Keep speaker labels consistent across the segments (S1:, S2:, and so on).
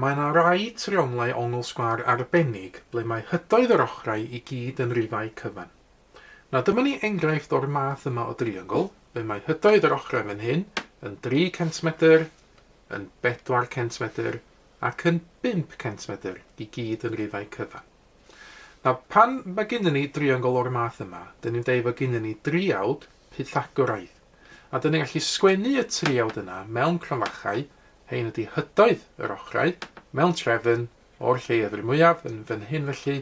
S1: Mae yna rai trionglau ongl sgwâr arbennig ble mae hydoedd yr ochrau i gyd yn rifau cyfan. Na dyma ni enghraifft o'r math yma o driongl, fe mae hydoedd yr ochrau fan hyn yn dri centmedr, yn bedwar centmedr ac yn bump centmedr i gyd yn rifau cyfan. Nawr, pan mae gennyn ni driongl o'r math yma, dyn ni'n deud fod gennyn ni driawd Pythagoraidd, a dyn ni'n gallu sgwennu y triawd yna mewn cromfachau, hein ydy hydoedd yr ochrau, mewn trefn, o'r lleied yr mwyaf, yn fan hyn felly,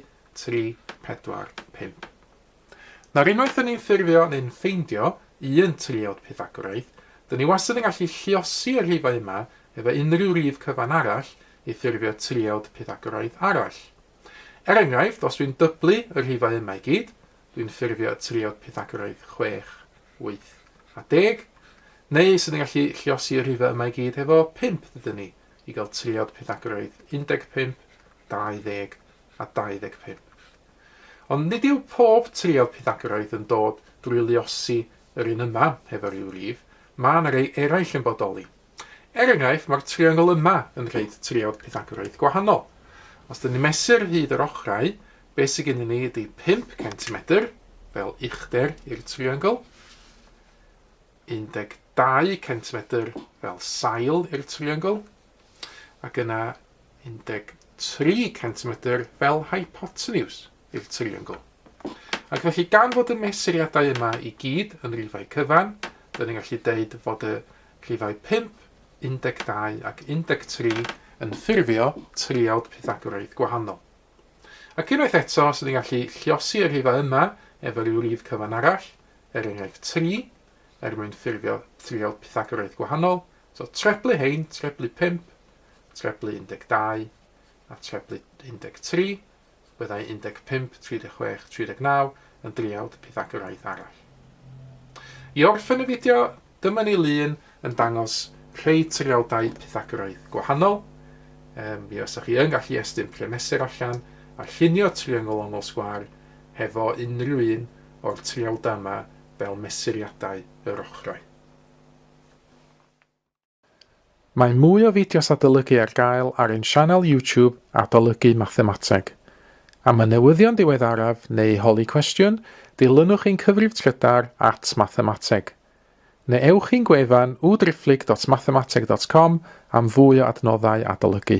S1: 3, 4, 5. Nawr, unwaith dyn ni'n ffurfio neu'n ffeindio un triawd Pythagoraidd, dyn ni wastad yn gallu lliosi y rhifau yma efo unrhyw rif cyfan arall i ffurfio triawd Pythagoraidd arall. Er enghraifft, os dwi'n dyblu y rhifau yma i gyd, dwi'n ffurfio y triawd Pythagoraidd 6, 8 a 10, neu sy'n yn gallu lliosi y rhifau yma i gyd hefo 5 dydyn ni i gael triawd Pythagoraidd 15, 20 a 25. Ond nid yw pob triawd pythagoraeth yn dod drwy luosi yr un yma efo rhyw rif, mae yna rei eraill yn bodoli. Er enghraifft, mae'r triongl yma yn rhaid triawd pythagoraeth gwahanol. Os dyn ni'n mesur hyd yr ochrau, be sydd gennym ni ydy 5 centimetr, fel uchder i'r triongl, 12 centimetr fel sail i'r triongl, ac yna 13 centimetr fel hypotenuse i'r triongl. Ac felly gan fod y mesuriadau yma i gyd yn rifau cyfan, dyn ni'n gallu deud fod y rhifau 5, 12 ac 13 yn ffurfio triawd Pythagoraidd gwahanol. Ac unwaith eto, sydd ni'n gallu lliosi y rhifau yma efo rhyw rif cyfan arall, er enghraifft 3, er mwyn ffurfio triawd Pythagoraidd gwahanol, So, treblu rhein, treblu 5, treblu 12 a treblu 13, byddai 15, 36, 39 yn driawd Pythagoraidd arall. I orffen y fideo, dyma ni lun yn dangos rhai triawdau Pythagoraidd gwahanol. Um, mi fysa chi yn gallu estyn premesur allan a llunio triongl ongl sgwar hefo unrhyw un o'r triawdau yma fel mesuriadau yr ochrau. Mae mwy o fideos adolygu ar gael ar ein sianel YouTube Adolygu Mathemateg. Am y newyddion diweddaraf neu holi cwestiwn, dilynwch ein cyfrif trydar at Mathemateg. Neu ewch i'n gwefan www.driphlyg.mathemateg.com am fwy o adnoddau adolygu.